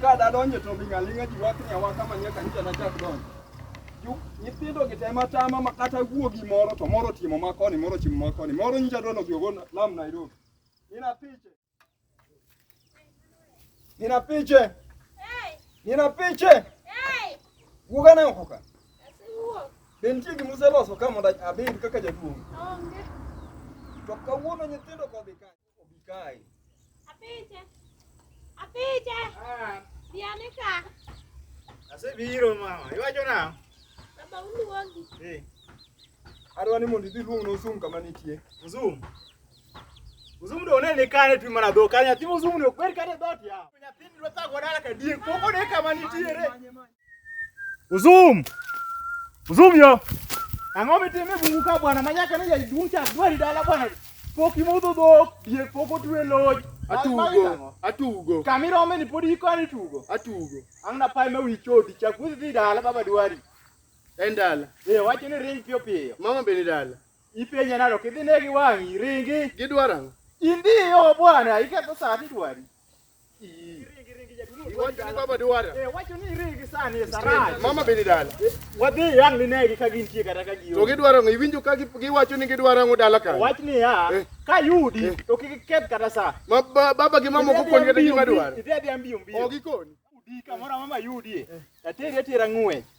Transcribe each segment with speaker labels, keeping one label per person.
Speaker 1: Ka dadonjo to mi ng'aling'a ji wakni awaka manie kanisa na chak donjo. Ju- Nyithindo gi tema tama ma kata wuo gi moro to moro timo ma koni, moro timo ma koni. Moro nyicha dwano gi ogo lam Nairobi. Nina piche. Nina piche. Hey, Nina piche. hey, Wuoga na oko ka. asiwuok. Be nitie gima useloso ka mondo abed kaka jaduong'? Onge. To kawuono nyithindo kodhi ka. Obikai. Apiche. Apiche. Ah. Dianika.
Speaker 2: Asebiro mama. Iwacho nang'o? Baba
Speaker 1: uluongi. Eh. Adwa ni mondo idhi luong n'Ozum kama nitie.
Speaker 2: Ozum. Ozum do ne ni kane twi mana dhok. Nyathi Ozum ne ok ber kane dhot ya. Nyathi dwa thago dala ka diek. Pok one kama nitiere. Uzum! Uzum yo! Ang'o mitime bungu ka bwana manyaka ni jaduong' chak dwari dala bwana. Pok imodho dhok, diek pok otwe loj. Atugo,
Speaker 1: atugo. Kamirome ni
Speaker 2: pod ikoni tugo. Atugo. Ang' na
Speaker 1: pae ma wi
Speaker 2: chodi chak wuodhi dhi dala baba dwari. En dala.
Speaker 1: Eh, wacho ni ring
Speaker 2: piyo piyo. Mama be ni dala.
Speaker 1: Ipenja nalo kidhi
Speaker 2: negi wang'i ringi. Gidwaro ang'o?
Speaker 1: Indiyo
Speaker 2: bwana, iketho saa tidwari. Mama bende dala.
Speaker 1: Wadhi yang ni
Speaker 2: negi ka gintie kata ka gionge. To gidwaro ng'o iwinjo ka
Speaker 1: giwacho ni gidwaro ng'o dala ka. Wach ni ya eh.
Speaker 2: ka yudi eh. to kik keth kata sa. Ma baba gi mama
Speaker 1: kokoni kata gima dwaro. Idhi adhi ambiyo mbiyo.
Speaker 2: Ogikoni. Udi
Speaker 1: kamoro mama
Speaker 2: yudie. Eh. Ateri atera ng'we.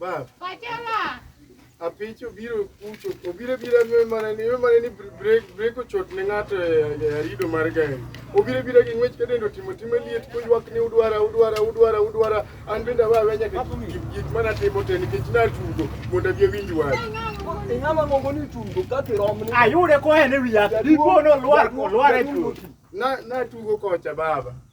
Speaker 2: Bab.
Speaker 1: Pachela.
Speaker 3: Apich
Speaker 1: obiro kucho, obiro bira nwe mana ni, nwe mana ni break, break ochot ne ng'ato e arido mar gari. Obiro bira gi ng'wech kadendo timo timo liet koywak ni udwara, udwara, udwara, udwara. An bende awa awa nyaka gik mana timo te nikech na tugo mondo abi awinj wach. Ing'ama ng'ongo ni tugo kati romni. Ayude kohen e wiya,
Speaker 2: dipo nolwar, olwar e tugo. Na, na tugo
Speaker 1: kocha baba.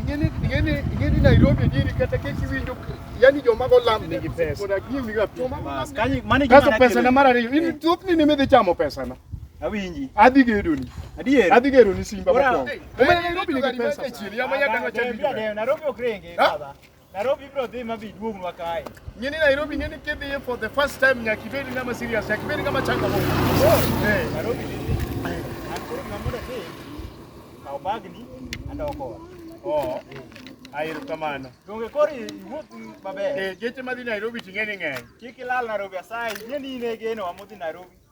Speaker 1: Ingeni ingeni ingeni Nairobi nini kata kesi winjo yani joma go lam nigi pesa. Kuna gini ga joma go lam. Kanyi mani
Speaker 2: gima Kaso pesa na mara riyo. Ini
Speaker 1: thup ni nime dhi chamo pesa na. Awinji. Adhi
Speaker 2: gedo ni.
Speaker 1: Adier. Adhi gedo ni
Speaker 2: Simba
Speaker 1: kwa. Umene Nairobi nigi
Speaker 2: pesa. Nairobi ok renge baba. Nairobi bro dhi ma bi duognwa kae. Nyini Nairobi nyini
Speaker 1: kidhi for the first time nyaka ibed ng'ama serious, nyaka ibed ng'ama changamoto. Oh, eh. Nairobi dhi. An koro ng'ama mondo
Speaker 2: dhi. Kaw bagni andoko. Oh. Ayero kamano. Donge koro iwuoth maber. Eh, geche madhi Nairobi
Speaker 1: ting'e ni ng'eny. Kik ilal Nairobi
Speaker 2: asayi, ing'e ni in e geno wa modhi Nairobi.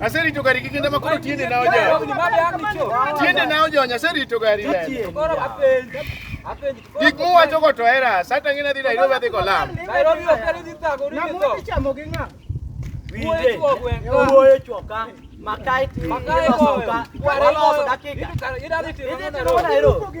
Speaker 1: Aserito gari gi kinda makoro tiende na oja. Tiende na oja aserito gari le. Gik muwacho go to era, sata ngina dhi Nairobi adhi go lam. Nairobi okeli dhi
Speaker 3: tago ni to. Namu chamo gi nga.
Speaker 2: Wije.
Speaker 3: Wuoyo
Speaker 2: choka. Makai ti. Makai ko.
Speaker 3: Waloso dakika. Ida dhi timo Nairobi.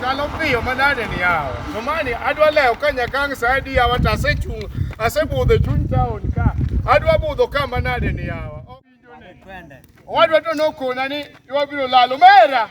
Speaker 2: Kalo piyo manade ni yawa. Somani adwa lewo ka nyakang' sa adi yawa to asechung' asebudho e chuny taon ka. Adwa budho ka manade ni yawa.
Speaker 3: Owadwa to
Speaker 2: nokona ni wabiro lalo mera.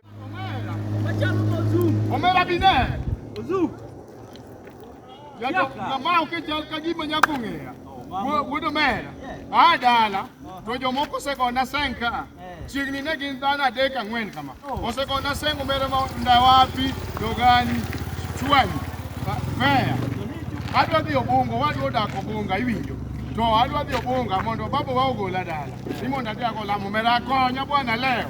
Speaker 2: Omera bi ne. Ozu. Yato kama okechal ka gima nyako ng'eya. Wuod omera. A dala. To jomoko osekona seng ka. Chiegni ne gin dhano adek ang'wen kama. Osekona seng omera ma ndawapi, dogani, chwani, meya. Adwa dhi obungo, wadwa odak obunga iwinjo. To adwa dhi obunga mondo babawa ogola dala. Ni mondo adhi ago lamo omera konya bwana leo.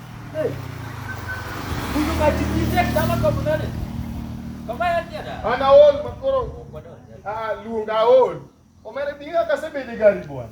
Speaker 3: An aol makoro
Speaker 2: ah, luong aol. Omere bi kaka asebedo e gari bwana.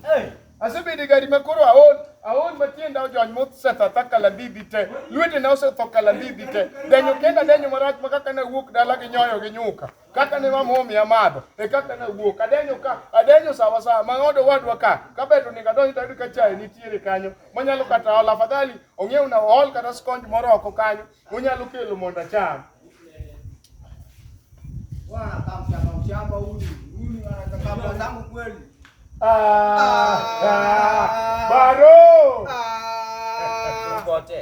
Speaker 2: Asebedo e gari makoro aol aol matienda ojony mosetho ta kalambibi te. Lwetena osetho kalambibi te. Denyo kenda denyo marach ma kaka nawuok dala gi nyoyo gi nyuka. kaka ne wamomi amadho e kaka nawuok adenyo ka adenyo sawa sawa mang'odo wadwa ka kabeto ni kadonjo tayudo ka chae nitiere kanyo manyalo kata ol afadhali ong'ew na ol kata skonj moro oko kanyo monyalo kelo mondo acham
Speaker 1: Ah, ah,
Speaker 2: baro
Speaker 3: Tuko wote.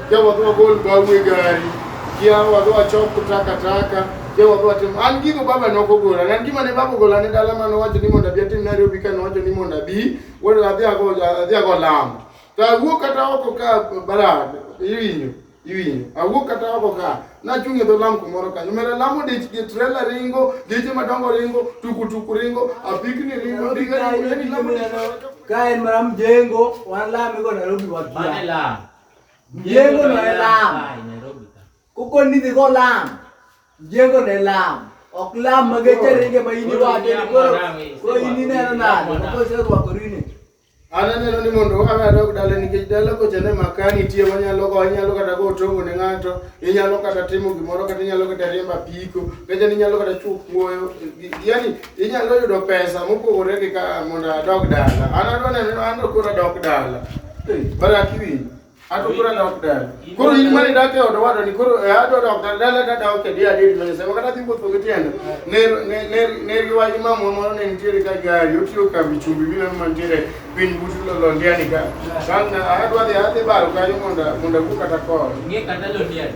Speaker 1: Jawa dwa gol bawe gari. Jawa dwa choko takataka. Jawa dwa timo. An gigo baba ne ok ogola. An gima ne baba ogola ne dala mane owacho ni mondo abi atim Nairobi ka nowacho ni mondo abi. Wuod adhi ago adhi ago lamo. To awuok kata oko ka barad. Iwinjo. Iwinjo. Awuok kata oko ka. Nachung' e dho lam kumoro kanyo. Mera lamo dich gi trela ringo, geche madongo ringo, tukutuku ringo, apikni ringo, Nairobi ndiga kae ringo. Yaani lamo dich- kae mara
Speaker 4: mjengo wanalamigo Nairobi Mane wakia la.
Speaker 3: Mjengo
Speaker 4: na elam.
Speaker 3: Kuko ni dhigo
Speaker 4: lam. Mjengo na elam. Ok lam mageche ringe ma ini wacho ni koro koro ini neno nade. Kuko se rwako rini. An aneno ni
Speaker 1: mondo wawe adog dala nikech dala kocha ne maka nitie wanyalo go inyalo kata go tongo ne ng'ato inyalo kata timo gimoro kata inyalo kata riemba piko kacha ni inyalo kata chuo kuoyo yani Inyalo yudo pesa mopogore gi ka mondo adog dala. An adwa neno ni an to koro adok dala. But akiwinj. An to koro adok dala. Koro in mane idak e od owadwani koro eh, adwa dok dala dala to adok e dia adiri ma Nyasaye. Wakati adhi wuotho gi tienda. Ne ne ne ne giwacho ni mamwa moro ne nitiere ka gari otiyo kambi chumbi gi mama nitiere piny but londiani ka. San adwa dhi adhi baro kanyo mondo mondo awuo kata kor. Ng'e kata londiani.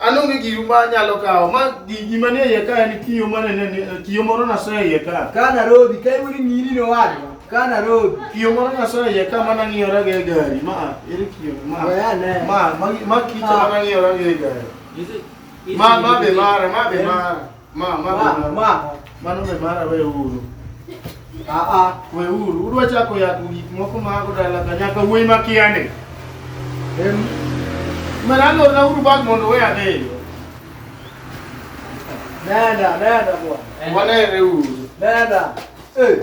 Speaker 4: An onge giru
Speaker 1: ma anyalo kawo. Ma gi- gima nie iye ka en kiyo ma nene ni- kiyo moro nasoyo e iye ka. Ka Nairobi, ka iwuoyo
Speaker 4: ni mini ni owadwa, ka Nairobi. Kiyo moro nasoyo e iye
Speaker 1: ka ma nang'iyora go e gari. Ma a, ere kiyo ni? ma. We ane. Ma ma ma kicho ma nang'iyora go e gari. Is it? Ma ma be mara, ma be mara. Ma, ma, ma, ma, ma, mano me mara we uru. Aa, ah, ah, we uru, uru achako ya gik moko ma ako dala ka nyaka wuoyi ma kiane. Em, merano na uru bag mondo we ane yo. Nenda, nenda bwana. Wanere uru. Nenda. Eh.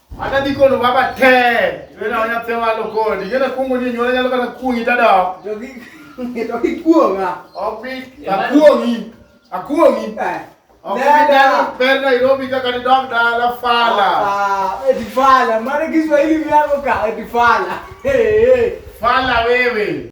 Speaker 4: Ata
Speaker 1: dhi kono baba te. Wena wanya te walo kodi. Gena kungo ni nyora nyalo kata kungi tada. Dogi
Speaker 4: dogi kuonga. Opi
Speaker 1: akuongi. Akuongi. Opi dana per Nairobi kaka ni dog dala fala. Ah, eti fala.
Speaker 4: Mara Kiswahili vyako
Speaker 1: ka
Speaker 4: eti fala. Hey, hey. Fala wewe.